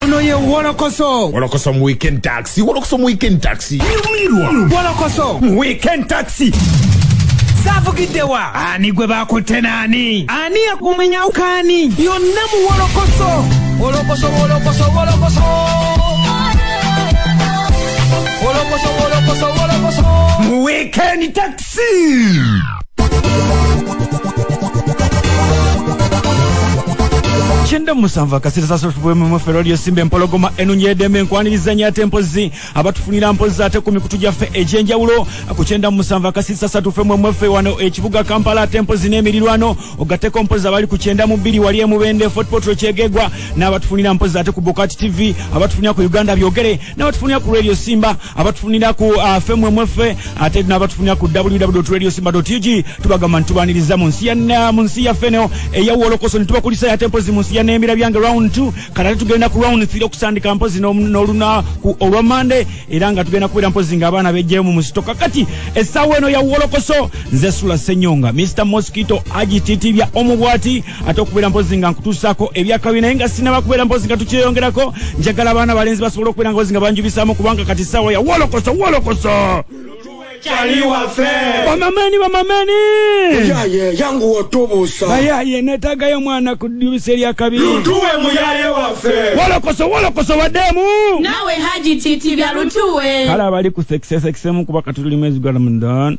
Ono ye Wolokoso. Wolokoso mu weekend taxi. Wolokoso mu weekend taxi. Nyumirwa. Wolokoso mu weekend taxi. Zavugiddewa. Ani gwe bakutte naani? Ani yakumenya ukaani? Yonna mu Wolokoso. Wolokoso, Wolokoso, Wolokoso. Wolokoso, Wolokoso, Wolokoso. Mu weekend taxi. kyenda musanvu akasita sasofubwemumuffe lwaliyo simba empologoma enunyi edembe enkwaniriza nyo ate mpozi abatufunira mpozi ate ku mikutu gyaffe egyenjawulo ku kyenda musanvu akasita sasatufe mwemweffe wano ekibuga kampala ate mpozi n'emirirwano ogateko mpozi abali ku kyenda mu bbiri wali emubende fotpotro kyegegwa n'abatufunira mpozi ate ku bukati tv abatufunira ku uganda byogere nabatufunira ku radio simba abatufunira ku uh, fmwemweffe ate nabatufunira ku www radio simba ug tubagamba nitubaniriza mu nsi uh, yaffe neo eyawolokoso nitubakulisa yate mpozi mu nsi ya nembira byange round t kanate tugenda ku round th okusandika mpozi nolunaku olwa mande era nga tugenda kubeera mpozi nga abaana bejjayo mu musito kakati essaawa eno yawolokoso nze sula senyonga mr mosquito agititibya omu bwati ate okubeera mpozi nga nkutuusaako ebyakabi naye nga sinaba kubeera mpozi nga tukyeyongerako njagala abaana balenzi basobola okubeera ngozi nga banjubisaamu kubanga kati saawa ya wolokoso wolokoso bamamani bamamani yangu watubusa bayaye netagayo mwana kudibisa eryakabi lutuwe muyaye wafe wolokoso wolokoso wademu nawe haji titi bya lutuwe kale abali ku sekisesekisemu kuba katuli mwezi gwa ramadan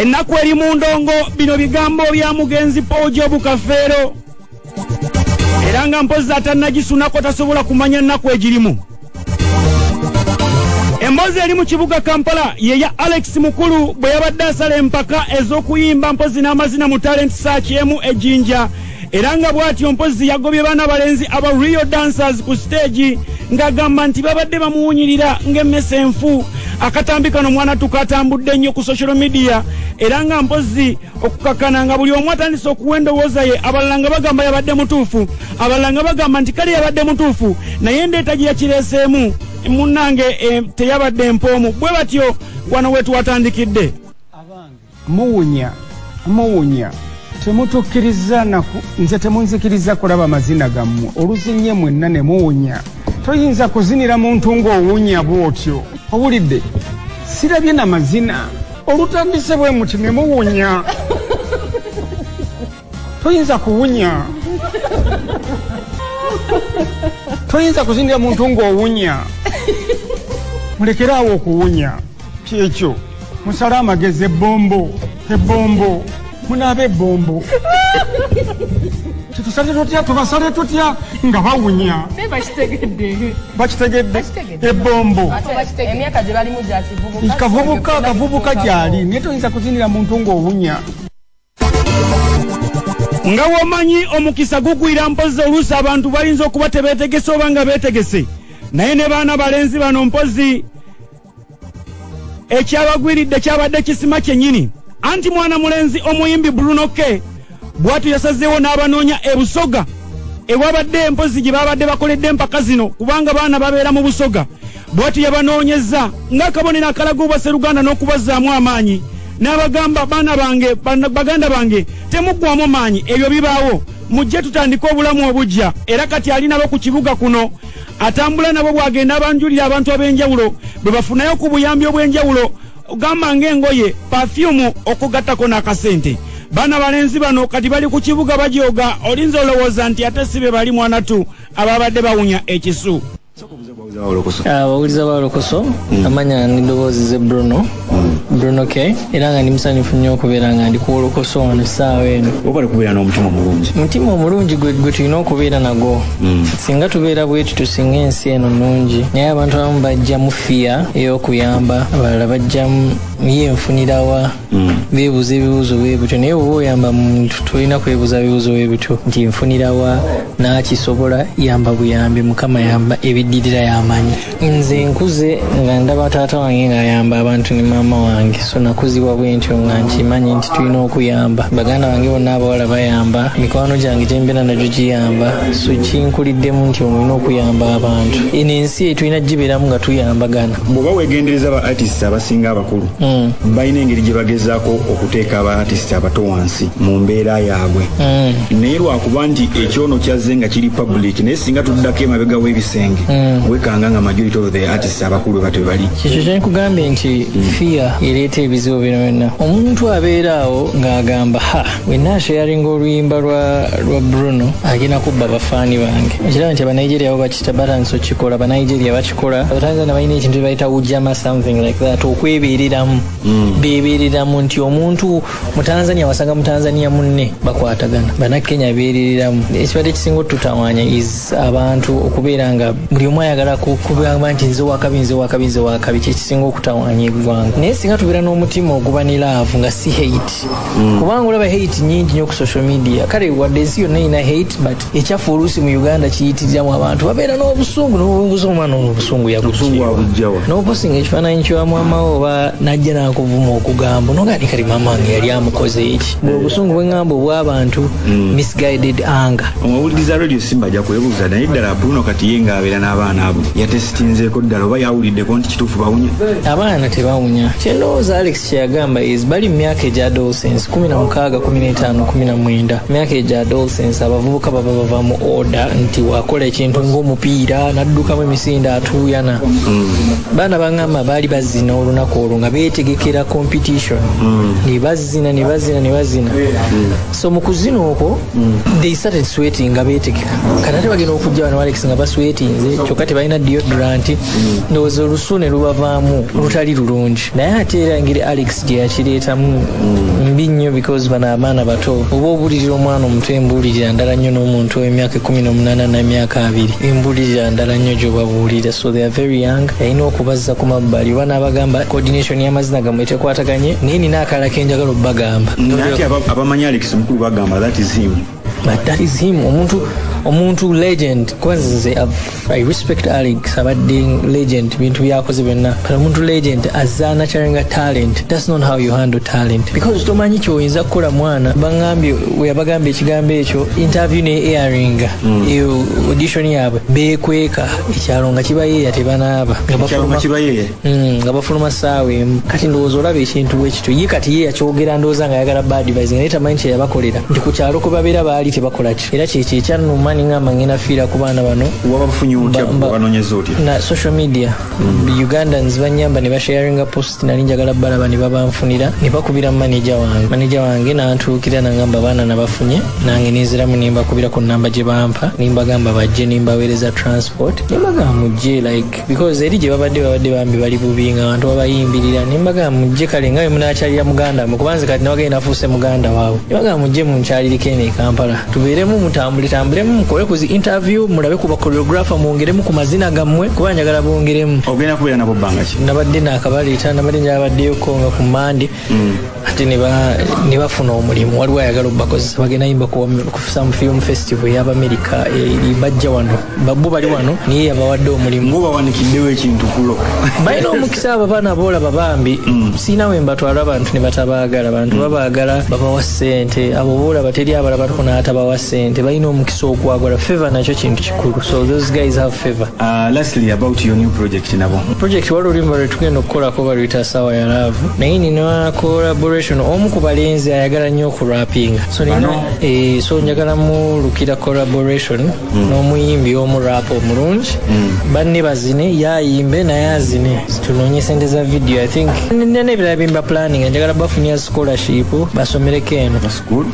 ennaku eri mu ndongo bino bigambo bya mugenzi paul jobu kafeero era nga mpozi atannagisunako tasobola kumanya nnaku egirimu emboozi eri mu kibuga kampala yeya alex mukulu bwe yabadde asala empaka ez'okuyimba mpozi n'amazina mu talenti saaki emu ejinja era nga bw'atyo mpozzi yagobye baana balenzi aba real dancers ku siteegi ng'agamba nti babadde bamuwunyirira ng'emmese enfu akatambi kano mwana tukatambudde ennyo ku social media era nga mpozzi okukakana nga buli omu atandise okuwa endowooza ye abalala nga bagamba yabadde mutuufu abalala nga bagamba nti kale yabadde mutuufu naye endeeta gye yakireeseemu munnange eh, teyabadde mpoomu bwe batyo wano we twatandikidde Muwunya muwunya temutukiriza naku nze temunzikiriza kulaba mazina gammwe oluzinye mwenna ne muwunya toyinza kuzinira muntu ng'owunya bw'otyo owulidde sirabye na mazina olutandise bwe muti ne muwunya toyinza kuwunya toyinza kuzinira muntu ng'owunya mulekere awo okuwunya kyekyo musala amagezi ebombo ebombo munaaba ebombo tetusale tutya tubasale tutya nga bawunya bakitegedde ebombo kavubuka kavubuka gyali naye toyinza kuzinira muntu ng'owunya Nga womanyi omukisa gugwira mpozi oluusi abantu bayinza okuba tebetegese oba nga betegese naye ne baana balenzi bano mpozi ekyabagwiridde kyabadde kisima kyenyini anti mwana mulenzi omuyimbi bruno k bwatyo yasazeewo n'abanoonya ebusoga ewabadde empozi gye babadde bakoledde empaka zino kubanga baana babeera mu busoga bwati yabanoonyezza ng'akabonero akalaga obwaseruganda n'okubazzaamu amaanyi n'abagamba baana bange baganda bange temuggwamu maanyi ebyo bibaawo mujje tutandike obulamu obujja era kati ali nabo ku kibuga kuno atambula nabo bw'agenda abanjulira abantu ab'enjawulo bwe bafunayo ku buyambi obw'enjawulo gamba ng'engoye pafyumu okugattako n'akasente baana balenzi bano kati bali ku kibuga bajooga olinza olowooza nti ate si be bali mwanatu ababadde bawunya ekisu abawuliza ba lokoso mm. amanya nidoboozi ze bruno mm. bruno k era nga ndi musanyufu nnyo okubeera nga ndi kuwolokoso wano essaawa eno obale kubeera n'omutima omulungi omutima omulungi gwe tulina okubeera nagwo mm. singa tubeera bweti tusinga ensi eno nungi naye abantu abamu bajjamu fiya ey'okuyamba abalala bajjamu ye nfunirawa mm. beebuuza ebibuuzo bwe bityo naye oba oyamba muntu tolina kwebuuza bibuuzo bwe bityo nti nfunirawa n'akisobola yamba buyambi mukama yamba ebiddirira yamanyi nze nkuze nga ndaba taata wange ng'ayamba abantu ne maama wange so nakuzibwa bwe ntyo nga nkimanyi nti tulina okuyamba baganda bange bonna abawala bayamba mikwano gyange gyembeera nagyo giyamba so kinkuliddemu nti omulina okuyamba abantu eno ensi etulina gibeeramu nga tuyambagana bwoba wegendereza ba artist abasinga abakulu mm. balina engeri gye bagezaako okuteeka abaatisiti abato wansi mu mbeera yaabwe mm. naye lwakuba nti ekyono kyazze nga kiri public naye singa tuddako emabega w'ebisenge mm. wekanga nga majority of the artists abakulu beba tebali ekyo kyenkugambye nti mm. fiya ereeta ebizibu bino byonna omuntu abeera awo ng'agamba ha wenna asheyaringa oluyimba lwa bruno agenda kubba abafaani bange ekiraba nti abanigeria bo batandise okukikola banigeria bakikola abatanzania balina ekintu ebayita ujama something like that okwebereramu mm. bebereramu nti omuntu mutanzania wasanga mutanzania munne bakwatagana banakenya berereramu ekibadde ekisinga otutawanya is abantu okubeera nga buli omu ayagala kugamba nti nze wakabi nze wakabi nze wakabi kyekisinga okutawanya eggwanga naye singa tubeera n'omutima oguba ne laavu nga si hate mm. kubanga olaba hate nyingi nyo ku social media kale wadde ensi yonna erina hate but ekyaffe oluusi mu uganda kiyitiriramu abantu babeera n'obusungu nobunguza omwana ono obusungu yagujjawa noposinga ekifaananyi kya maamawo oba najja nakuvuma okugamba noga ni kali maama wange yali amukoze eki bwe obusungu bweŋamba obw'abantu hmm. misguided anger omawuliriza radio simba ajja kwebuuza naye ddala apuno kati ye ngaabeera n'abaana abo yatesitinzeeko ddala oba yawuliddeko nti kituufu bawunya abaana tebawunya kyendowooza alex kyeyagamba is bali mu myaka egya adolescence kumi na mukaaga kumi n'etaano kumi na mwenda myaka egya adolescence abavubuka baba bava mu order nti wakola ekintu ng'omupiira n'addukamu emisinde atuuyana mm. baana bangamba baali bazina olunaku olwo nga beetegekera competition mm. ne bazina ne bazina ne bazina mm. so mu kuzina okwo they started sweating nga beetegeka kati ate bagenda okujja bano alex nga baswetinze kyokka tebalina deodorant ndowooza olusu ne lubavaamu lutali lulungi naye ate era engeri alex gye yakireetamu mm. mbi nnyo because bano abaana bato oba obulirira omwana omuto embulirira ndala nnyo n'omuntu ow'emyaka ekumi n'omunaana n'emyaka abiri embulirira ndala nnyo gyobabuulira so they are very young yalina okubazza ku mabbali oba n'abagamba coordination y'amazina gamwe tekwataganye naye nina akala kenjagala obubagamba abamanyi alex mukulu bagamba that is him but that is him omuntu omuntu legend kwanza nze i respect alex abadde legend bintu byakoze byonna but omuntu legend azaana kyalinga talent thats not how you handle talent because tomanyi kyoyinza kukola mwana bagambye weyabagambye ekigambo ekyo interview ne airing mm. eyo audition yaabwe bekweka ekyalo nga kibayeeya tebanaaba nga bakibayeeya Hmm, nga bafuluma saawa emu kati ndowooza olaba ekintu bwekityo ye kati ye yakyogera ndowooza nga ayagala badvise naye tamanyi kyeyabakolera nti ku kyalo kwe babeera baali tebakolaki era kyekyo ekyannuma ningamba ngenda fiira ku baana bano na social media hmm. ugandans banyamba ne basharinga post nali njagala balaba ne babanfunira ne bakubira maneja wange maneja wange nantuukira nangamba baana nabafunye nange nenziramu nembakubira ku namba gye bampa nembagamba bajje nembaweereza transport nembagamba mujje like because eri gye babadde babadde bambi bali bubi nga abantu babayimbirira ne mbagamba mujje kale nga bwe munaakyalira muganda mwe kubanze kati nabagende nafuuse muganda waabwe ne bagamba mujje munkyaliriko eno e kampala tubeeremu mutambuletambulemu mukole ku zi interview mulabe ku bakoreografa mwongeremu ku mazina gammwe kuba njagala bongeremu ogenda kubeera nabo bbanga ki nabadde naakabaleeta nabadde njala baddeyoko nga ku mande ate nebafuna omulimu waliwo ayagala obakozesa bagenda yimba kusamu film festival eyabamerika eri bajja wano bo bali wano naye yabawadde omulimubawanikiddewo ekintu kulo balina omukisa abo baana boolaba bambi mm. siina we mbatwala abantu ne batabaagala bantu mm. babaagala babawa ssente abo boolaba teri abalabatuko n'atabawa ssente balina omukisa ogwagala feva nakyo kintu So those guys have favor. Uh, lastly about your new project nabo. Project walo limba retugenda okukola ko baluyita sawa ya love. Naye nina collaboration omu ku balenzi ayagala nnyo okurapinga. So nina eh, so njagala mu lukira collaboration mm. n'omuyimbi omu rap omulungi. Mm. Banne bazine yayimbe naye azine. Tunonye sente za video I think. Nina nebirala bimba planning njagala bafunya scholarship basomereko eno.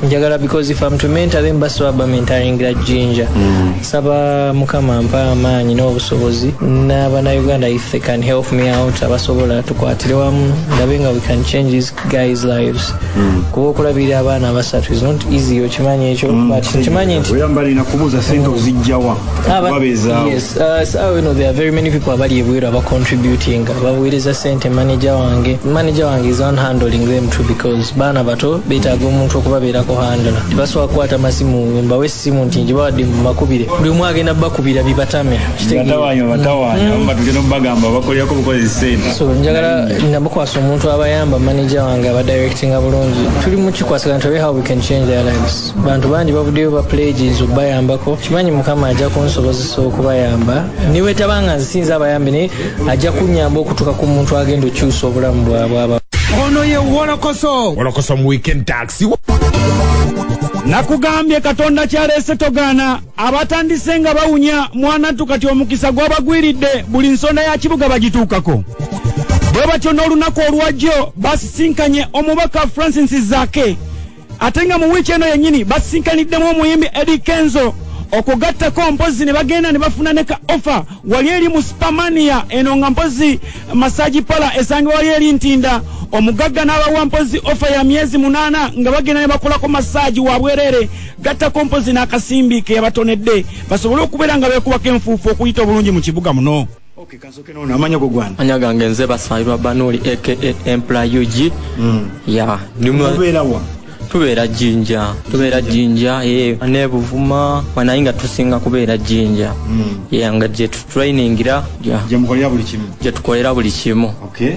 njagala because if am to mentor them basi baba mentoringira jinja mm. saba mukama mpa amaanyi n'obusobozi n'abana uganda if they can help me out abasobola tukwatire wamu ndabe nga we can change these guys lives mm. kuba okulabirira abaana abasatu is not easy okimanyi ekyo mm. but nkimanyi nti oyamba lina kubuuza sente ozijjawa okubabeezaawo yes uh, sawa wino there are very many people abali ebweru abacontributinga babuweereza sente manager wange manager wange is on handling them to because baana bato betaaga omuntu okubabeerako handla tebasobola kukwata masimu mbawo essimu nti ngibawadde mu makubire buli omu agenda bakubira bibatame njagala nabakwasa omuntu abayamba manaja wange abadirectinga bulungi tuli mukikwasagana tulabe how we can change their lives bantu bangi bavuddeyo ba pledges okubayambako kimanyi mukama ajja kunsobozesa okubayamba niwetabanga nsinza abayambi naye ajja kunyamba okutuuka ku muntu agenda okyusa obulamu bwabwaba ono ye wolokoso wolokoso mu weekend taxi nakugambye katonda kyaleese togaana abatandise nga bawunya mwanattu kati omukisa gwabagwiridde buli nsonda ya kibuga bagituukako bwe batyo n'olunaku olwajjo basisinkanye omubaka francis zake ate nga mu wiiki eno yennyini basisinkaniddemu omuyimbi edi kenzo okugattako mpozi ne bagenda ne bafuna ne ka offa wali eri mu sipamania eno nga mpozi masaji pala esangibwa wali eri ntinda omugagga n'abawa mpozi offa ya myezi munaana nga bagenda ne bakolako masaji wa bwereere gattako mpozi n'akasimbi ke yabatonedde basobole okubeera nga beekubako enfuufu okuyita obulungi mu kibuga muno Okay, kansoke nono amanya go gwana. Anya gange nze basayirwa banoli aka empla UG. Mm. Yeah. Nimwa. Kubera wa. Tubera jinja. Tubera jinja. Eh, yeah. ne buvuma. Wana inga tusinga kubera jinja. Mm. Yeah, nga je tu training ira. Yeah. Je mkolera buli kimu. Je tukolera buli kimu. Okay.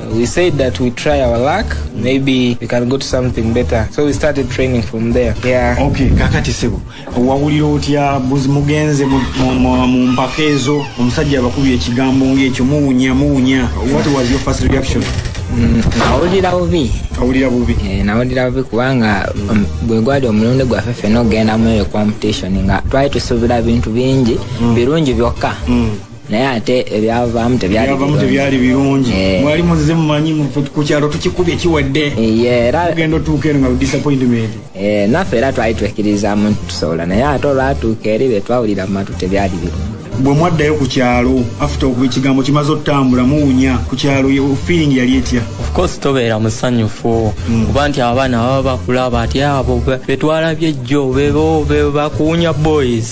We said that we try our luck, maybe we can go to something better. So we started training from there. Yeah. Okay, kakati sebo. Wawulira otya buzi mugenze mu mpaka ezo omusajja abakubye ekigambo ng'ekyo muwunya muwunya. What was your first reaction? Mm, nawulira bubi awulira bubi eh, nawulira bubi kubanga um, gwe gwali omulundi gwaffe fena okugenda muyo competition nga twali tusuubira bintu bingi mm. birungi byokka mm. naye ate ebyavaamu tebyalivamu tebyali birungi eh. mwali muzize mumanyi ku kyalo tukikubye kiwedde eh, era ogenda otuuka eno nga disappointment eh, naffe era twali twekkirizamu nti tusobola naye ate olwatuuka eri betwawulira mu matu tebyali birungi bwe mwaddayo ku kyalo afute okuba ekigambo kimaze okutambula muwunya ku kyalo feeling yali etya ofcourse tobeera musanyufu hmm. kuba nti abaana baba bakulaba ati abo betwalabye jjo bebo bebakuwunya boys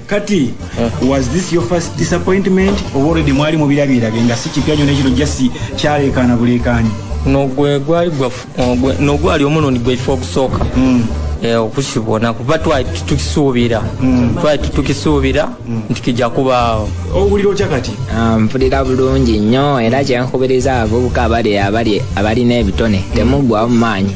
kati was this your first disappointment oba already mwali mubirabirabe nga si kipya nyo nekino just kyaleekaana buleekaanyi nogwe gwali nogwali omulundi gwekifa okusooka hmm. eh, okusibona kuba twali tukisuubira hmm. twali tukisuubira hmm. nti kija kubaawo owulira otya kati ah, mpulira bulungi nnyo era kyenkubiriza abavubuka abali abalina ebitone temuggwamu maanyi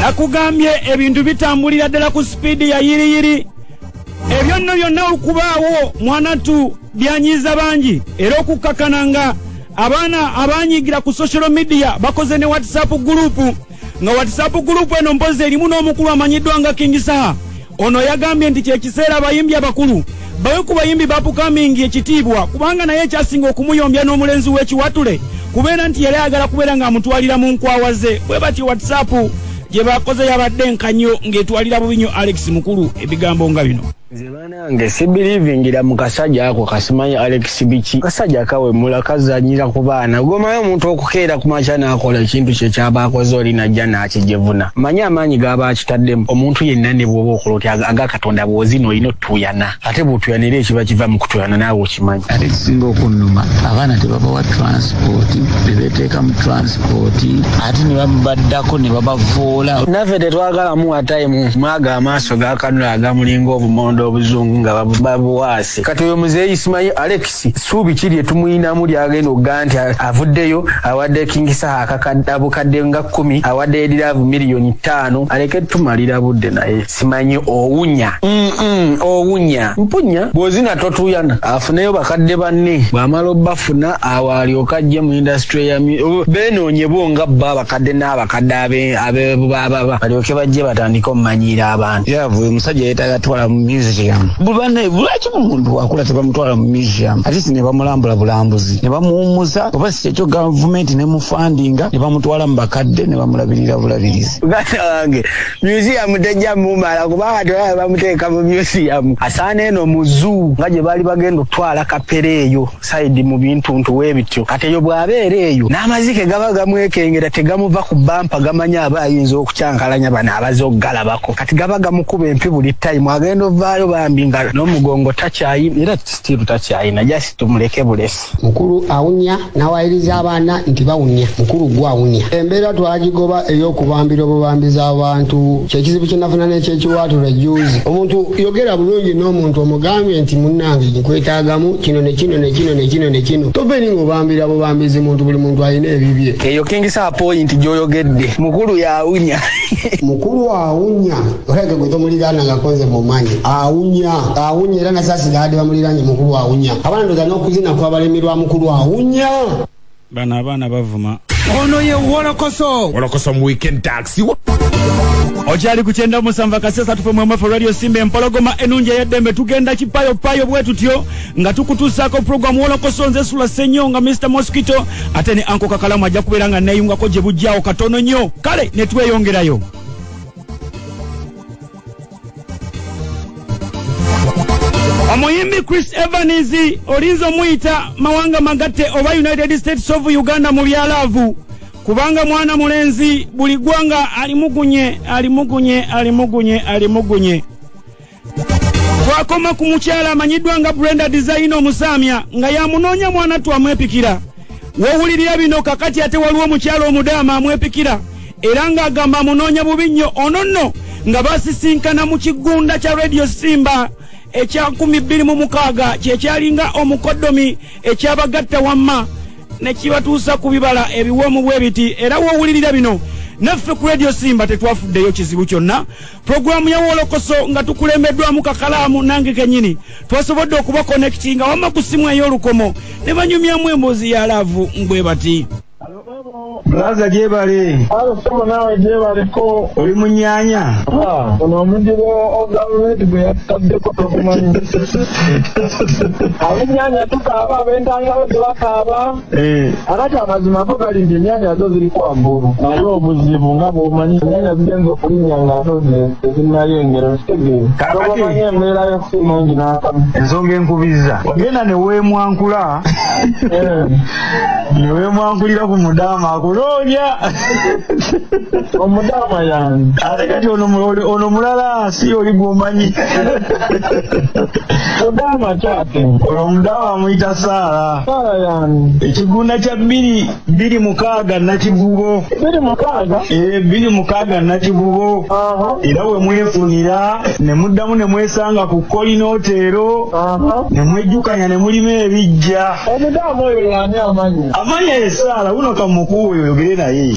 nakugambye ebintu bitambulira ddala ku sipiidi ya yiriyiri ebyo nno byonna okubaawo mwanatu byanyiiza bangi era okukkakana nga abaana abanyigira ku social media bakoze ne whatsapp gurupu nga whatsapp gurupu eno mpozi erimu n'omukulu amanyiddwa nga kingisaha Ono yagambye nti kyekiseera abayimbi abakulu bawe ku bayimbi bapukamingi ekitiibwa kubanga naye ekyasinga okumuyombya n'omulenzi w'ekiwatule kubeera nti yali ayagala kubeera ng'amutwalira mu nkwawa ze bwe batyo whatsapp gye bakoze yabadde enkanyo ng'etwalira bubi nyo alex mukulu ebigambo nga bino nze banange sibirivingira mu kasajja ako kasimanyi alex sibiki kasajja kawemula kazanyira ku baana gwomanyi omuntu okukeera ku makya n'akola ekintu kye kyaba akoze oli najja n'akijevuna manyi amaanyi gaba akitaddemu omuntu yenna ne bwoba okola oti aga katonda bwozina olina otuyana ate bwotuyana era ekiba kiva mu kutuyana naawe okimanyi ate kisinga okunnuma abaana tebabawa transipooti bebeteeka mu transipooti ate ne babaddako ne babavoola naffe tetwagalamu watayimu mwaga amaaso gakanula agamulinga obumondo obuzungu nga babuwaasi Kati oyo muzeeyi Ismail Alex suubi ki lye tumuyinamu lyagenda okugaa nti avuddeyo awadde King Saha akakadde abukadde nga kkumi awadde ediraavu miliyoni ttaano aleke tumalira budde naye simanyi owunya owunya mpunya bw'ozina totuyana afuneyo bakadde banne bw'amala obbafuna awo alyoka ajje mu indasitule ya beenoonye bo nga bo abakadde n'abakadde abebubababa balyoke bajje batandike omumanyiira abantu yavu uyu musajja yetaga twala mu museum bubane bulaki bumuntu wakula tebamutwala mu museum at least ne bamulambula bulambuzi ne bamuwummuza oba si kyekyo gavumenti ne mufandinga ne bamutwala mu bakadde ne bamulabirira bulabirizi muganda wange museum tejja mumala kubanga tewaba bamuteeka mu museum asaana eno mu zoo nga gye baali bagenda okutwala kapere eyo saidi mu bintuntu webityo kati eyo bw'abeera eyo n'amazike gaba gamwekengera tegamuva ku bampa gamanya aba ayinza okukyankalanya bano abaze okugalabako kati gaba gamukuba empi buli tayimu agenda ovaayo bambi nga n'omugongo takyayina era sitiiru takyayina jasi tumuleke bulesi mukulu awunya n'awayiriza abaana nti bawunya mukulu gwe awunya embeera twagigoba ey'okubambira obubambizi abantu kyekizibu kyenafuna n'ekyekiwaatula ejuuzi omuntu yogera bulungi n'omuntu omugambye nti munnange kwetagamu kino nekino nekino nekino nekino tobeni ngobambira bubambizi muntu buli muntu alina ebibye eyo kingisa point gyoyogedde mukulu yawunya mukulu awunya olabika gwe tomuliraana nga konze mumanyi awunya awunya era nasasira adi bamuliranye mukulu awunya abana ndoza n'okuzina kwabalemerwa mukulu awunya bano abaana bavuma ono ye wolokoso wolokoso mu weekend taxi okyali ku kyenda musanvu akasesa tufe mwemwefe radio simba empologoma enungi eyeddembe tugenda kipayopayo bwe tutyo nga tukutuusaako puroguramu wolokoso nze sula senyo nga mr mosquito ate ne anko kakalamu ajja kubeera nga neeyungako gye bujjaawo katono nnyo kale ne tweyongerayo omuyimbi chris evans olinza omuyita mawanga magatte oba united states of uganda mu byalaavu kubanga mwana mulenzi buli ggwanga alimugunye alimugunye alimugunye alimugunye twakoma ku mukyala amanyiddwa nga brenda design omusaamya nga yamunoonya mwana twamwepikira wowulirira bino kakati ate waliwo omukyalo omudaama amwepikira era ng'agamba amunoonya bubi nnyo ono nno nga basisinkana mu kigunda kya radio simba ekya 2mukaaga kyekyalinga omukodomi ekyabagatta wamma nekibatuusa ku bibala ebiwoomu bwebiti era wowulirira bino naffe ku radio simba tetwafuddeyo kizibu kyonna pulogulaamu ya wolokoso nga tukulembeddwamu kakalaamu nange kenyini twasobodde okuba konekiti nga wamma ku ssimu ey'olukomo ne banyumyamu emboozi ya laavu mbwe bati Blaza jebale. Alo somo nawe jebale ko. Oli munyanya. Ah, ono mudibo o government gwe yatadde ko tokumanyi. Abunyanya tukaba bentanga bwe bakaba. Eh. kakati amazima ago gali nti enyanya azo ziri kwambulu naye obuzibu nga bwomanyi enyanya zigenza okulinya nga ato tezinayengera okitegeeaomanyi embeera yokusi mungi nakamu ensonga enkubiza genda newemwankula eh. newemwankulira ku mudaama akunoonya omudaama yange ate kati ono mulala si oli gwomanyi mudaama kyate ono omudaama amuyita saala ekigunda kya bbiri bbiri mukaaga nakivubo bbiri mukaaga eh, bbiri mukaaga nakivubo era we mwefunira ne muddamu ne mwesanga ku kolina oteero ne mwejjukanya ne mulima ebijja omudamu oyo yani amanya amanya esaala wuno kamukuwa oyo oyogere naye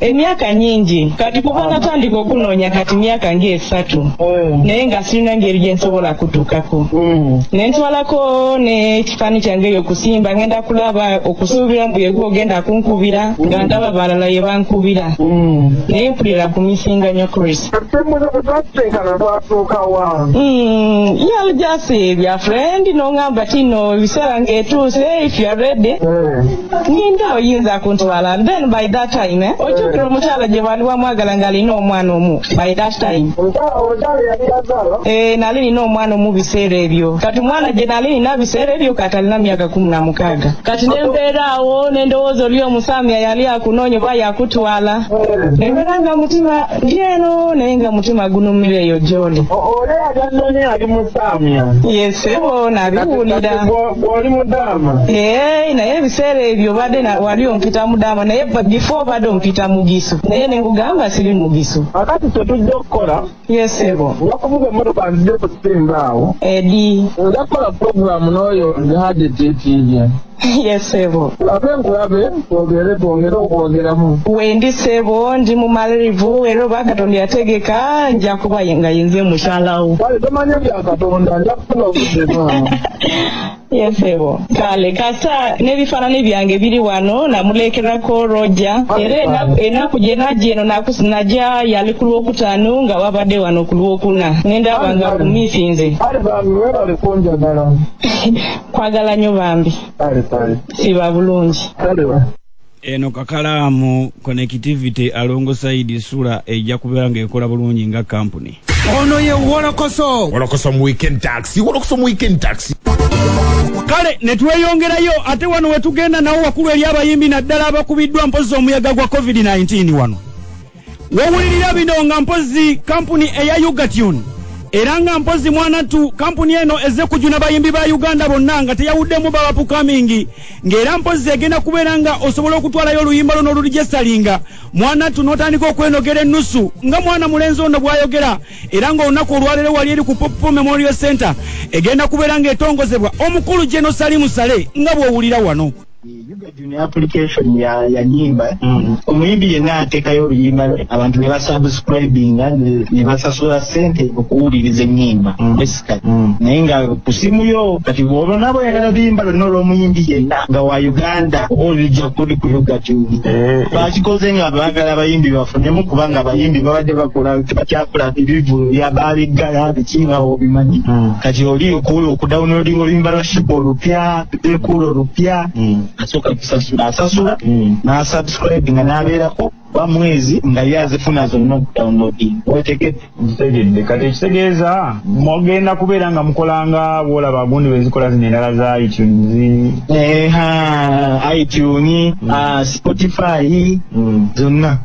emyaka nyingi kati kuba natandika okunoonya kati myaka ng'esatu mm. naye nga sirina ngeri gye nsobola kutuukako mm. ne ntwalako n'ekifaani kyange eyo okusimba ngenda kulaba okusuubira mbu yegwa ogenda kunkubira mm. nga ndaba balala ye bankubira naye mpulira ku misinga nyo chris yali jasi bya friend n'oŋamba kino ebiseera ng'etuuse if you're ready ninda oyinza kuntwala then by that time eh? ojjukira omukyala gye bwali wamwagala nga alina omwana omu by that time eh, nali nina omwana omu biseera ebyo kati omwana gye nali nina biseera ebyo kati alina myaka kumi na mukaaga kati nembeeraawo nendowooza oli omusamya yali akunoonya oba yakutwala nembeera nga mutima lyeno naye nga mutima gunumira eyo gyoli yesebo nabiwulira oli mudaama naye naye ebiseera ebyo obadde na- wali ompita mudaama naye ba- before obadde ompita mugisu naye ne nkugamba siri mugisu akati kyetujja okukola yesebo wakuvuga emmotoka nzija okusimba awo edi nja kukola pulogulaamu n'oyo jihadi titiibye yesebo ate nkulabe twogere twongere okwogeramu wendi sebo ndi mu malirivu era oba katonda yategeka nja kuba nga yenze mukyalawo kale tomanya bya katonda nja yesebo kale kasa n'ebifaananyi byange biri wano namuleekerako roja era enaku- enaku gye najja eno nakus- najja yali ku lwokutaano nga wabadde wano ku lwokuna nendaba nga kumisinze kale bambi webale kunjagala kwagala nnyo bambi kale kale siba bulungi kale ba eno kakalaamu connectivity alongosaidi sula ejja kubeera ng'ekola bulungi nga kampuni ono ye wolokoso wolokoso mu weekend taxi wolokoso mu weekend taxi kale ne tweyongerayo ate wano we tugenda nawo wakulu eri abayimbi naddala abakubiddwa mpozzi omuyaga gwa covid-19 wano wawulirira bino nga mpozi kampuni eya ugatune era nga mpozi mwanattu kampuni eno ezze kujuna bayimbi ba uganda bonna nga teyawuddemu babapukamingi ng'era mpozi egenda kubeera nga osobola okutwalayo oluyimba luno olulijesitalinga mwanattu n'otandika okwenogera ennusu nga mwana mulenzi ono bw'ayogera era ng'olunaku olwaleero wali eri ku poppo memorial center egenda kubeera ng'etongozebwa omukulu geno salimu sale nga bw'owulira wano Yuga Junior application ya yanyimba mm. omuyimbi yenna ateekayo oluyimba lwe abantu ne basubscribinga ne basasula ssente okuwuliriza ennyimba mm. basically mm. naye nga ku simu yo kati olwo nabo yagala luyimba lwonna olw'omuyimbi yenna nga wa uganda oba olujja kuli ku Yuga Junior eh, eh. bakikoze nga baagala abayimbi bafunemu kubanga abayimbi babadde bakola tebakyakola ebivu bya baabiggala biki nga obimanyi kati oli okuwula okudawunodinga oluyimba lwa shiba olupya ekuulo lupya mm. asooka kusasula asasula mm. n'asubscribe nga n'abeerako ba mwezi nga ye azifuna zonna okudownloading wetegedde ntegedde kati ekitegeeza mugenda kubeera nga mukolanga bwolaba gundi bezikola zino endala za itunes eha itunes mm. ah, spotify zonna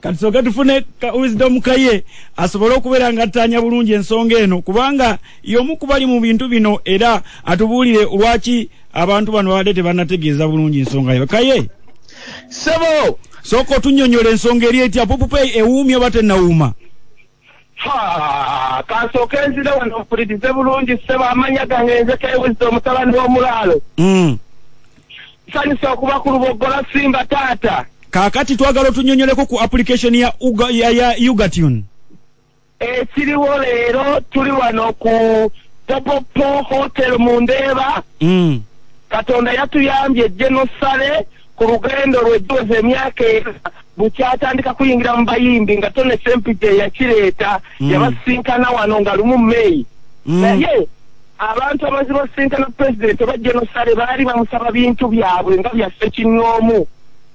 kati soka tufune ka wisdom kaye asobole okubeera nga attaanya bulungi ensonga eno kubanga y'omu kubali mu bintu bino era atubuulire lwaki abantu bano babadde tebanategeeza bulungi ensonga yo kaye sebo sooka otunyonyola ensonga eri etya pupupeyi ewuumya oba tenawuuma Ha, kansooke nzire wano mpulirize bulungi ssebo amannya gange nze kewizza omutabani w'omulaalo Mm. sanyusa okuba ku luboggola simba taata kaakati twagala otunyonyoleko ku application ya, Uga, ya, ya ugatune ekiriwo leero tuli wano ku popopo hotel mu ndeeba mm. katonda yatuyambye genosale ku lugendo lwe giweza emyaka era bukyatandika kuyingira mu bayimbi nga tone sempija eyakireeta mm. yabasisinkana wano nga lumu meyi mm. naye abantu abazi basisinkana pulezidenti oba genosale baali bamusaba bintu byabwe nga byaffe kinnoomu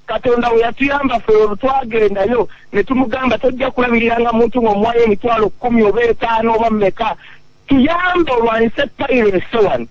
katonda we yatuyamba fe olwo twagendayo ne tumugamba tojja kulabirira nga muntu ng'omuwayo emitwalo kkumi oba etaano oba mumeka tuyambe olwanyise payiro esewano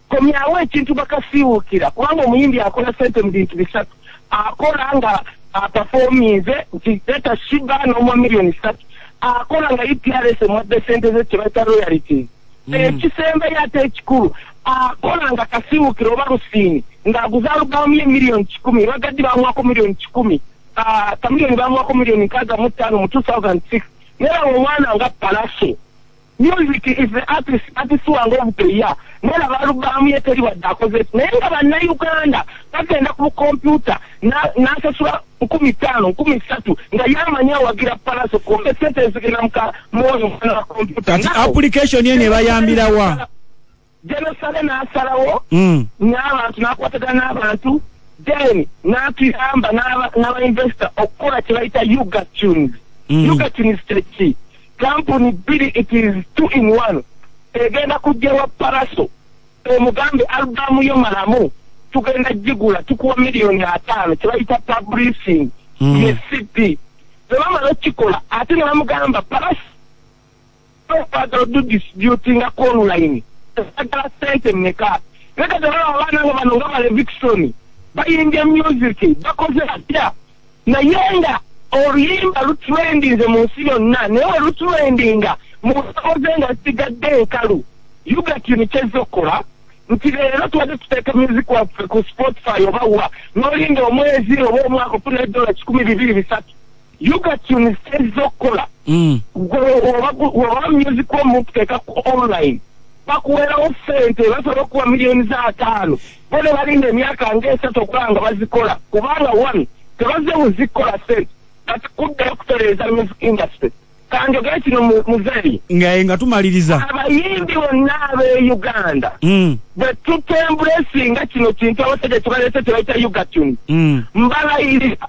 Komyawo ekintu bakasiiwuukira kubanga omuyimbi akola sente mu bintu bisatu akola nga apafominze nti leta shiba n'omwa miliyoni satu akola nga uprs e emwadde sente ze kyebayita royalities hmm. ekisembayo ate ekikulu akola nga kasiiwuukira oba lusiini ng'aguza alubamu ye miliyoni kikumi bagaddi bamwako miliyoni kikumi ah, kamiliyoni bamwako miliyoni nkaaga mu ttaano mu 2006 nerawo omwana nga palaso Music is the artist artist wange obupeya nolaba alubaamu ye teri wadde akoze naye nga bannayuganda bagenda ku bukompyuta n'asasula nkumi ttaano nkumi ssatu nga yamanyi awagira palaso kumbe sente ezigenda muka mwoyo mwana wa kompyuta kati application eno ebayambirawa Jerusalem n'asalawo mm. n'abantu n'akwatagana n'abantu then n'atuyamba n'abainvesita okukola kye bayita uga tunes mm. uga tunes kyeki kampuni bbiri it is two in one egenda kujjawa paraso omugambe albamu yo malamu tugenda gigula tukuwa miliyoni ataano kye bayita publishing mm. ye cd bwe bamala okukikola ate ne bamugamba paraso okwagala odu disputinga ku online agala sente meka naye kati olaba abaana nga bano nga balevikisoni bayimbye musiki bakoze batya naye nga oluyimba lutrendinze mu nsi yonna naye olutrendinga mu nsoboze nga zigadde enkalu yugatini kyezza okukola nti leero tubadde tuteeka music waffe ku spotify oba wa nolinda omwezi oba omwaka ofuna edola kikumi bibiri bisatu yugatuni sitezza okukola mm. oba music omukuteeka ku online bakuwerawo sente basobola okuwa miliyoni za ataano bo ne balinda emyaka ngaesatu okuba nga bazikola kubanga one tebaze muzikola sente kati kuddayo kutereeza music industry kanjogere kino muzeeyi ngaye nga tumaliriza abayimbi bonna ab'e uganda mm. bwe tutembulesinga kino kintu abasaja kibaleese tebaita ugatuni mm. mbalayirira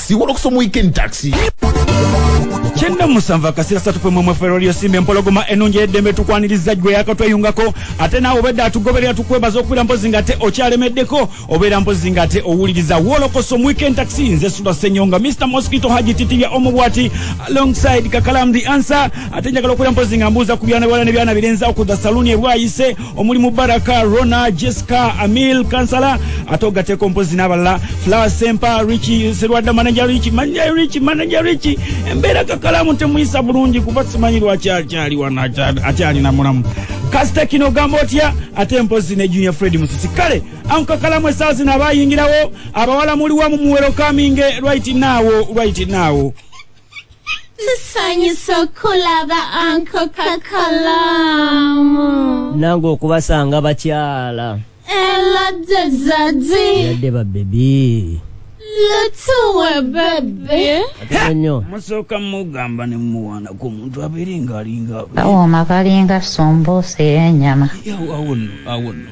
siwolo kusoma weekend taxi kyenda musanvu akasira satu pwe mwemwe fero lyo simbe mpologoma enungi edembe tukwaniriza gwe yakatweyungako ate nawe obedda atugoberera tukwebaza okubira mpozi nga te okyalemeddeko obeera mpozi nga te owuliriza wolokoso weekend taxi nze sula senyonga mr mosquito haji titibya omubwati alongside kakalam the answer ate njagala okubira mpozi nga mbuuza ku byana biwala ne byana birenza okudda saluni ebwayise omuli mubaraka rona jessica amil kansala ate ogateeko mpozi n'abalala flower sempa richi serwadda manaja richi manaja richi manaja richi embeera kakalaamu temuyisa bulungi kuba simanyi lwaki akyali wano akyali na mulamu kasita kino ogamba otya ate mpozi ne junior fred musisi kale ankakalamu esaa zino abayingirawo abawala muliwa mumuwerokaminge right naawo right naawo tusanyusa okulaba anko kakalaamu nange okubasanga bakyala elade zadi yadde babebi lutuwe bebe nyo musooka mugamba ne mumuwaana ku muntu abeere ng'alinga kawooma kalinga sumbuusa ey'enyama awo awo nno awo nno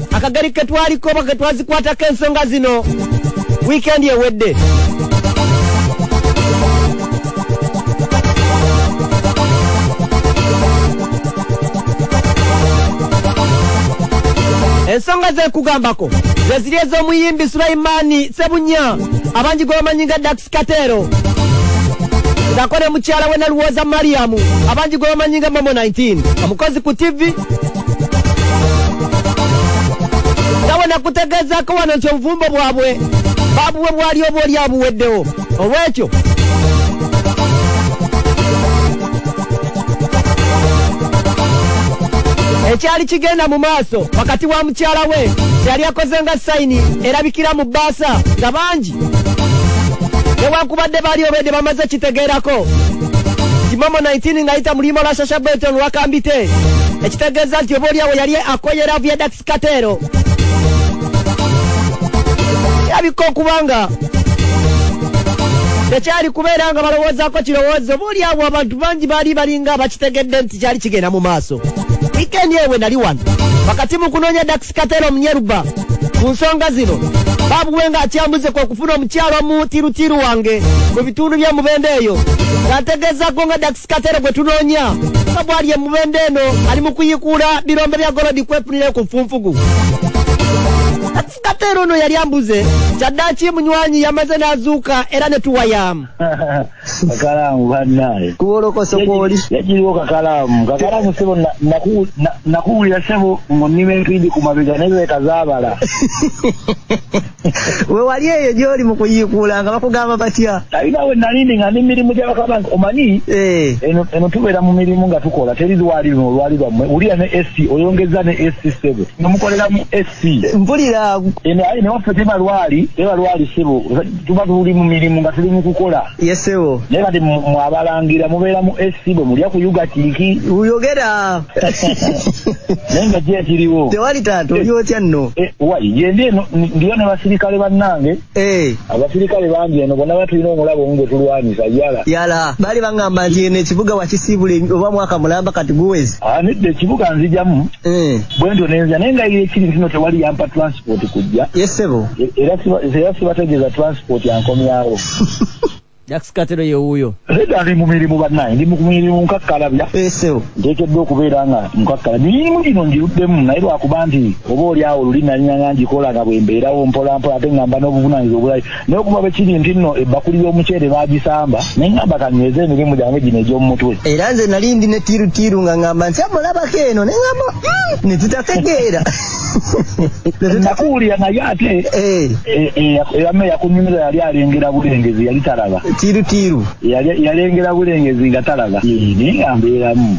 akageri ke twaliko oba ke twazikwatako ensonga zino wiikendi ewedde ensonga zekugambako zeziri ez'omuyimbi sulaimani sebunya abangi gwebamanyi nga dax Katero ngako ne mukyala we Naluwoza Mariam abangi gwe bamanyi nga Momo 19 omukozi ku TV nawe nakutegeezaako wano nti obufumbo bwabwe babuwe bwali oba oli abuweddewo olwekyo ekyali kigenda mu maaso wakati wa mukyala we kyeyali akoze nga sayini erabikira mu bbaasa nga bangi newankubadde baali obwedde bamaze kitegeerako kimomo 19 ng'ayita mu luyimba lwa shasha beton wakambite ekitegeeza nti oba oliawo yali akoyera viadax kateero kirabika okubanga tekyali kubeera nga balowoozaako kirowoozo oba oliawo abantu bangi baali balinga bakitegedde nti kyali kigenda mu maaso wikendi ewe nali wano wakati mu kunoonya dax Katera Omunyeruba ku nsonga zino babuwe nga akyambuze kwe kufuna omukyalo omu tirutiru wange mu bitundu bye mubende eyo ng'ategeezaako nga Dax Katera gwe tunoonya nga bw'ali emubende eno ali mu kuyikuula birombe bya golodi kwefunira ku nfunfugu Katera ono yali ambuze kyaddaaki munywanyi yamaze n'azuuka era ne tuwayamu kakalaamu bannaye kuwolokoso kwoli yagiriwo kakalaamu kakalaamu sebo nakuwulira sebo ngonima empindi ku mabega naye lweka zaabala we wali eyo gy'oli mu kuyiikuula nga bakugamba batya alina we nalindi nga ndi mirimu gyabakaba nti omanyi eh. eno tubeera mu mirimu nga tukola teri lwali luno olwali lwammwe wulira ne esi oyongeza ne esi sebo nomukolera mu esi mpulira aye newaffe teba lwali teba lwali sebo tuba tuli mu mirimu nga tuli mu kukola yesebo naye kati mwabalangira mubeera mu ac bwe mulya kuyuga kiki uyogera naye nga kyekiriwo tewali taata oli otya nno e, wayi gyendi eno ndiyo ne basirikale bannange Hey. Eh. abasirikale bangi eno bona batulina omulabo omu gwetulwanyisa yala yala baali baŋamba nti eno ekibuga wakisiibula oba mwaka mulamba kati guwezi ah, nedda ekibuga nzijamu hey. Eh. bwentyo nenza naye nga ekiri kino tewali yampa transport kujja yesebo e, era sibategeeza transport ankomyawo Jax Katero ye wuuyo. Nedda ndi mu mirimu bannaye, ndi mu mirimu nkakkalabya. Esewo. Nteekeddwa okubeera nga nkakkalabya. Emirimu gino ngiruddemu naye lwakuba nti oba oli awo luli nanyina nga ngikola nga bwe mbeerawo mpolampola ate nga mba n'obuvunaanyizibwa obulala naye okuva bwe kiri nti nno ebbakuli y'omuceere baagisamba ne ngamba kanyweze emirimu gyange gino egy'omu mutwe. Era nze nali ndi ne ttiiruttiiru nga ngamba nti amulabako eno ne ngamba hmm, ne tutategeera. nakuwulira naye ate eh. Eh, eh, eyame yakunyumira yali alengera bulengezi yali talaba tiirutiiru yalengera bulengezi nga talaba naye nga mbeeramu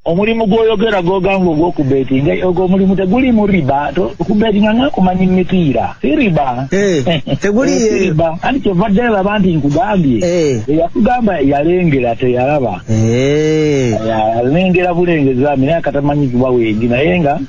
omulimu gwoyogera gwogamba ogwokubetinga ogwo omulimu teguli mu riba okubetinga ngakumanyi mitiira si riba eh, teguli eh, riba anti kyova ddala laba nti nkugambye eh. eyakugamba yalengera teyalaba alengera bulengezami naye akatamanyizibwa wengi naye nga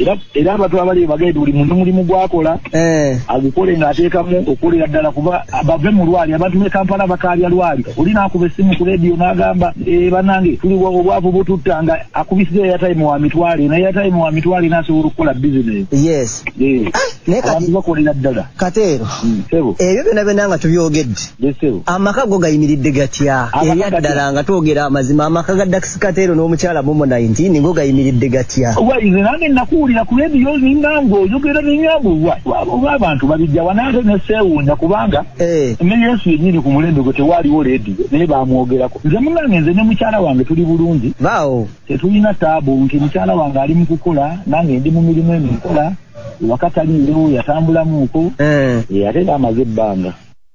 era era abantu abali bagende buli muntu mulimu gwakola eh. agukole ng'ateekamu okukolera ddala kuba bave mu lwali abantu b'e kampala bakaalya lwali oli n'akuba essimu ku leediyo n'agamba eh, banange tuli obwavu bututta nga akubisiza eyatayimu wa mitwale naye eyatayimu wa mitwale n'asobola okukola bizinesi eh. ah, abantu bakolera ddala kateero hmm, ebyo byona byona nga tubyogedde Amaka go gayimiridde gatya? Ebyaddala nga twogera amazima amaka ga Dax Kateero n'omukyala Momo 19 go gayimiridde gatya? Waize nange nakuwulira ku leediyo zinga ng'oyogera n'enyambo oba abantu babijja wanange ne seewuunya kubanga eh. ne Yesu yennyini ku mulembe gwe tewaaliwo leediyo naye baamwogerako. Nze munange nze ne mukyala wange tuli bulungi. Baawo. Tetulina taabu nti mukyala wange ali mu kukola nange ndi mu mirimu emikola wakataliirewo yatambulamuuko eh. ate baamaze ebbanga.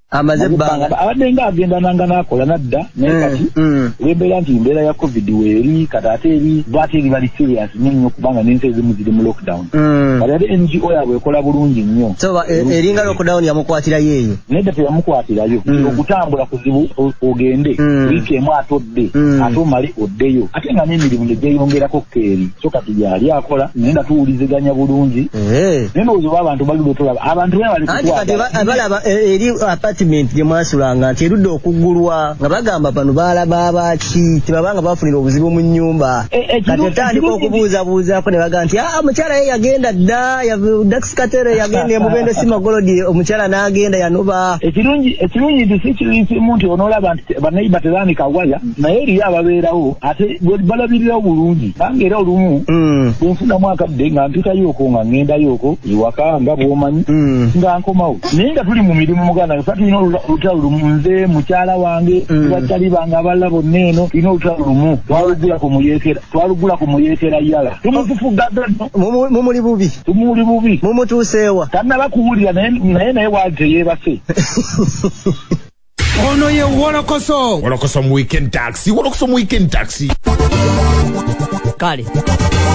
amaze ebbanga abadde nga agenda nanga nakola nadda naye mm, kati mm. olwembeera nti embeera ya covid weeri kati ate eri bwate eri bali serious nyo nnyo kubanga nensi ezimu ziri mu lockdown mm. kati ate ngo yabwe ekola bulungi nnyo so e, eringa lockdown yamukwatirayo eyo naye da teyamukwatirayo okutambula kuzibu ogende wiiki emu ate odde ate omale oddeyo ate nga n'emirimu negyeyongerako keeri so kati yaali akola naye nga tuwuliziganya bulungi Eh. naye ndowooza oba abantu bali bwetulaba abantu anti kati balaba eh, eri apartment gye mwasulanga nti erudde okuggulwa nga bagamba bano baalaba abaaki tebaba nga bafunira obuzibu mu nnyumba eh, kati otandika okubuuzabuuzaako ne baga nti aa ah, omukyala ye yagenda dda daxkatere yagenda emubende si magolodi omukyala n'agenda yanoba ekirungi nti si kimu nti onoolaba nti banaiba tebaanika waya naye eriyo ababeerawo ate balabirirawo bulungi bange era olumu mm. bwenfunamu akadde nga mpitayo oko nga ngendayo oko ewaka nga bwomanyi mm. nga nkomawo naye nga tuli mu mirimu muganda nga tulina olutalo lumu nze mukyala wange mm. bakyali bange abalala bonna eno tulina olutalo lumu twalugula ku muyekera twalugula ku muyekera yala tumutufugadda mumuli bubi tumuli bubi mumutuuseewa tannaba kuwulira naye naye waali teyeebase ono ye wolokoso wolokoso mu weekend taxi wolokoso mu weekend taxi kale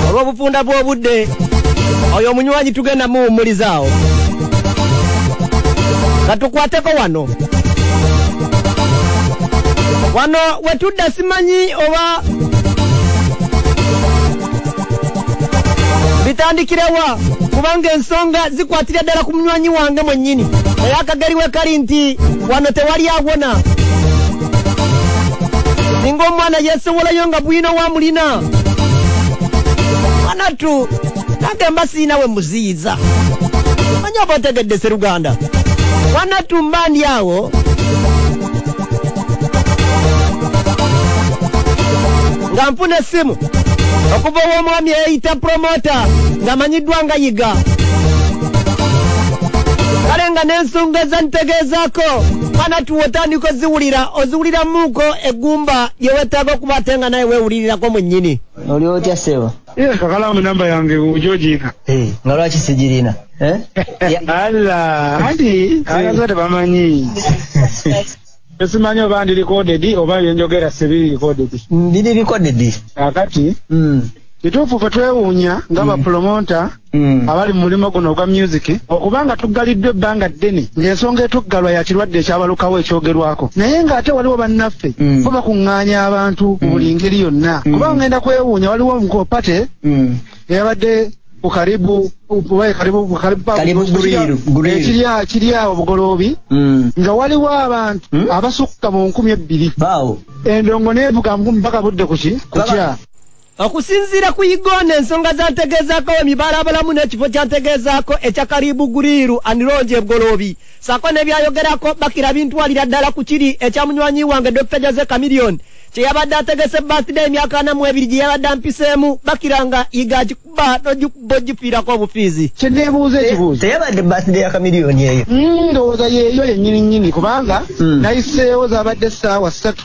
olw'obufunda bw'obudde oyo omunywanyi tugenda muwummulizaawo katukwateko wano wano wetudda simanyi oba bitandikirewa kubanga ensonga zikwatira ddala ku munywanyi wange mwennyini naye akageri we kali nti wano tewali awona singa omwana yesowolayo nga bwino wamulina mwanatu nange mba siina we muziyiza manya oba otegedde seruganda mwanatu mba ndi awo nga nfuna essimu okuva ow'omwami eyeyita promota ng'amanyiddwa nga yiga kale nga n'ensonga ezantegeezaako mwana tuwe otandika oziwulira oziwuliramuuko eggumba lye weetaaga okuba ate nga naye weewulirirako mwennyini oli otya ssebo Ye kakalamu namba yange ujojiika. Eh, nga lwaki sijirina? Eh? Alla, anti ayagala tebamanyi. Esimanyi oba ndi recorded oba yenjogera sibi recorded. Ndi recorded. Akati. Mm. Kituufu ffe twewuunya nga mm. bapromota Mm. abali mu mulimu guno ogwa music okuba nga tuggaliddwa ebbanga ddene ng'ensonga etuggalwa ya kirwadde ekyabalukawo ekyogerwako naye ng'ate waliwo bannaffe mm. bo bakuŋŋaanya abantu mu mm. buli ngeri yonna kuba ngenda kwewuunya waliwo omukopate eyabadde ku karibu kiri awo bugoloobi nga waliwo abantu abasukka mu nkumi ebbiri endongo neevuga mpaka budde kuki kukya okusinziira ku igona ensonga zantegeezaako we mibalabulamu n'ekifo kyantegeezaako ekya karibu guriiru anirongi ebgoloobi saako nebyayogerako bakira bintwalira ddala ku kiri ekya munywanyi wange dr jose camilion kye yabadde ategese birthday emyaka ana mu ebiri gye yabadde ampiseemu bakira nga yiga agikuba nogikuba ogifiirako obufiizi kyeneebuuza ekibuuzo teyabadde birthday ya camilion eyo hmm, ndowooza yeeyo yennyini nnyini kubanga hmm. nayiseewo zabadde essaawa ssatu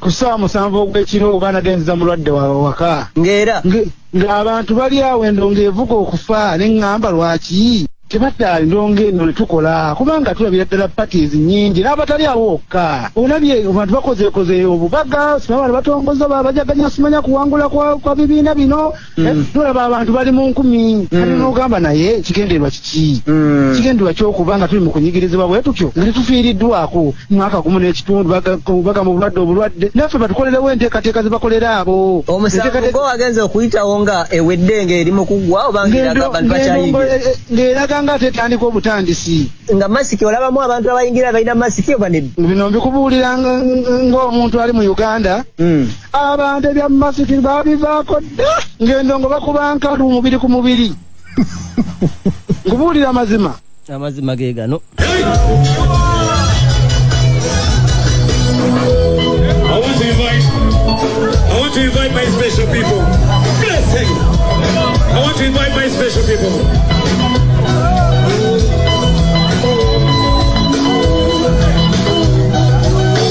ku ssaawa musanvu ogw'ekiro oba anagenziza mulwadde waabwe waka ng'era ng'abantu bali awo endongo evuga okufa ne ŋŋamba lwaki tebaddaali ndongo eno ne tukola kubanga tulabira ddala parties nnyingi n'abatali awo wokka olabye abantu bakozeekozeeyo obubaga simabana batongoza babajaganya simanya kuwangula kwa bibiina bino Mm. tulaba abantu bali mu nkumi mm. kati nogamba naye kigendererwa kiki mm. kigendererwa kyokuba nga tuli mu kunyigirizibwa bwe tutyo nga tetufiiriddwako mwaka gumu n'ekitundu baga mu bulwadde obulwadde naffe batukolerewo enteekateeka ze bakolera abo omusango wagenza okuyitawo nga ewedde ng'eri mu kuggwa oba ng'eraga nga tetandika obutandisi nga masiki olabamu abantu abayingira balina masiki oba nedda bino mbikubuulira ng'omuntu ali mu uganda abantu ebya masiki babivaako dda ng'endongo bakuba nkalu mubiri ku mubiri nkubuulira amazima amazima ge gano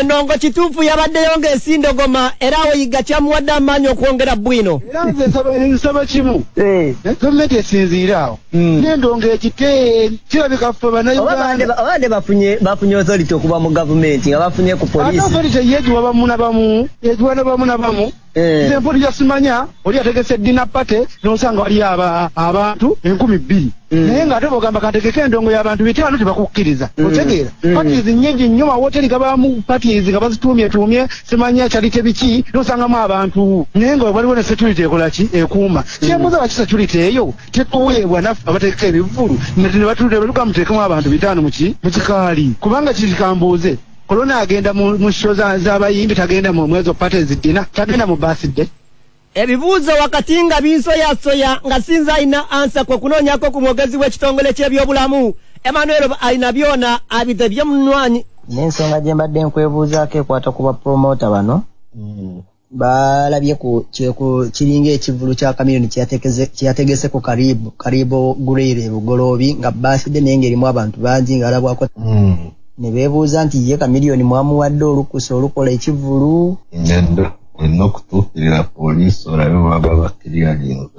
enongo kituufu yabaddeyo ng'esindogoma era awo yiga kyamuwadde amaanyi okwongera bwino era nze nsaba kimu eh. gavumenti esinziire awo hmm. nendongo ekite kirabika ffe banaugandabade bafunye othority okuva mu gavumenti nga bafunye ku polisi yegiwa bamu na bamu yegiwa na bamu na bamu Eh. nze mpuli yasimanya oli ategese dina pate nosanga wali abantu enkumi bbiri mm. naye nga ate bogamba kategeke endongo yabantu bitaano tebakukkiriza mm. otegeera mm. patis nyingi nnyo mawoteri gabamu patis nga bazituumyetuumye simanya kyali tebiki nosangamu abantu naye nga waliwo ne security ekolaki ekuuma kyembuza lwaki security eyo tetuweebwa naffe abategeka ebivvulu nti nebatulira betugamuteekemu abantu bitaano muki mukikaali kubanga kiri kambuuze Kolona agenda mu, mu show za, za bayimbi tagenda mu mwezo party zidina tagenda mu birthday. Ebibuuzo wakati nga binsoyasoya nga sinza alina ansa kwe kunoonyako ku mwogezi w'ekitongole ky'ebyobulamu Emmanuel alina byona abidde bye munwanyi. N'ensonga gye mbadde nkwebuuzaako ekwata ku bapromota bano mm. balabye ku kiringa ekivulu kya kamiyoni kyeyategese ku karibu karibu gurere bugoloobi nga baaside naye ngaerimu abantu bangi ngaalabwako hmm. ne beebuuza nti ye kamiliyoni mwamuwadde olukusa olukola ekivulu olina okutuukirira poliisi olabe baba bakiriyalinze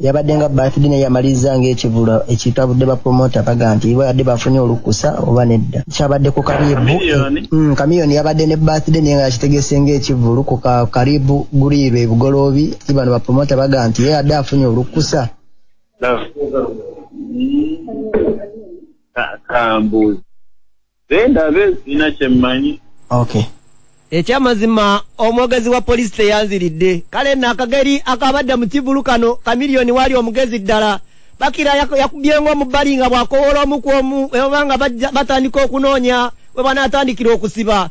yabadde nga birthday naye yamaliza ng'ekivulu ekitabudde bapromota baga nti babadde bafunye olukusa oba nedda kyabadde ku karibu kamiyoni mm, yabadde ne birthday naye nga yakitegese ng'ekivulu ku karibu guliiru ebugoloobi ibano bapromota baga nti ye yadde afunye olukusa kambuuzi zendabe sina kyemmanyi okay ekyamazima omwogezi wa poliisi teyanziridde kale no akageri akabadde mu kivulu kano kamiliyoni waali omugezi ddala bakira yakubyenga omubbali nga bwakowoola omu ku omu webaba nga batandika okunoonya webanaatandikira okusiba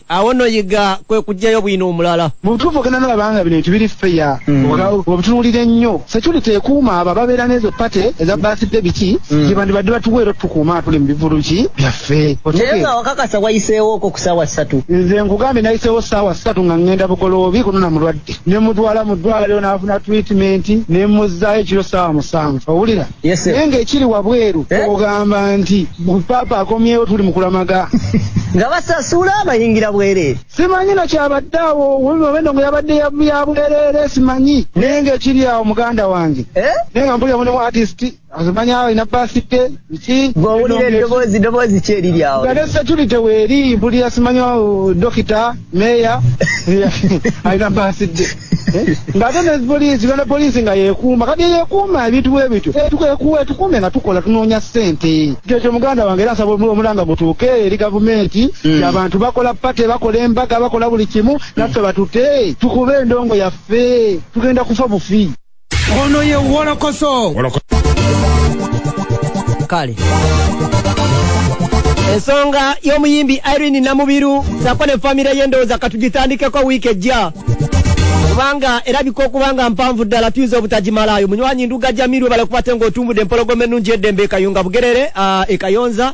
awo no yiga kwe kujjayo bwino omulala mubutuufu ogenda nolaba nga bino bintu biri feya mm. obitunuulira ennyo security ekuuma abo ababeera n'ezo pate eza basidde biki mm. gyebandi badde batuwa era tukuuma atuli mu bivulu ki byaffe naye nga wakakasa wayiseewooko ku saawa ssatu nze nkugambye nayiseewo saawa ssatu nga ngenda bugoloobi kunona mulwadde ne mutwala mu ddwaliro n'afuna treatment ne muzzaayo ekiro saawa musanvu owulira Yes, naye ng'ekiri wabweru eh? ogamba nti paapa akomyewo tuli mukulamaga nga basasula abayingira bwereere simanyi nakyabadde awo wemabendo nga yabadde yabwereere simanyi naye ng'ekiri awo muganda wange eh? naye nga mpulira mulimu atisiti azimanya awo ina basite ki gwowulira eddoboozi ddoboozi ki eriri awo gade security weeri mpulira simanyi dokita meeya alina basite Eh? ng'ate ne poliisi gana poliisi nga yekuuma kati yekuuma ebintu bwe bityo etukuwe eh, tukuume nga tukola tunoonya ssente ekyo kyo muganda wange era nsaba omulanga gutuuke eri gavumenti hmm. abantu bakola pate bakola embaga bakola buli kimu naffe batute tukube endongo yaffe tugenda kufa bufi ono ye wolokoso kale ensonga y'omuyimbi irene namubiru sako ne famire ye ndowooza katugitandikeko wiiki ejja kubanga erabika okuba nga mpanvu ddala tuyinza obutagimalaayo munywanyi nduga jamiru balakuba ate ng'otumbudde empologoma ennungi eddembe ekayunga bugerere ah, ekayonza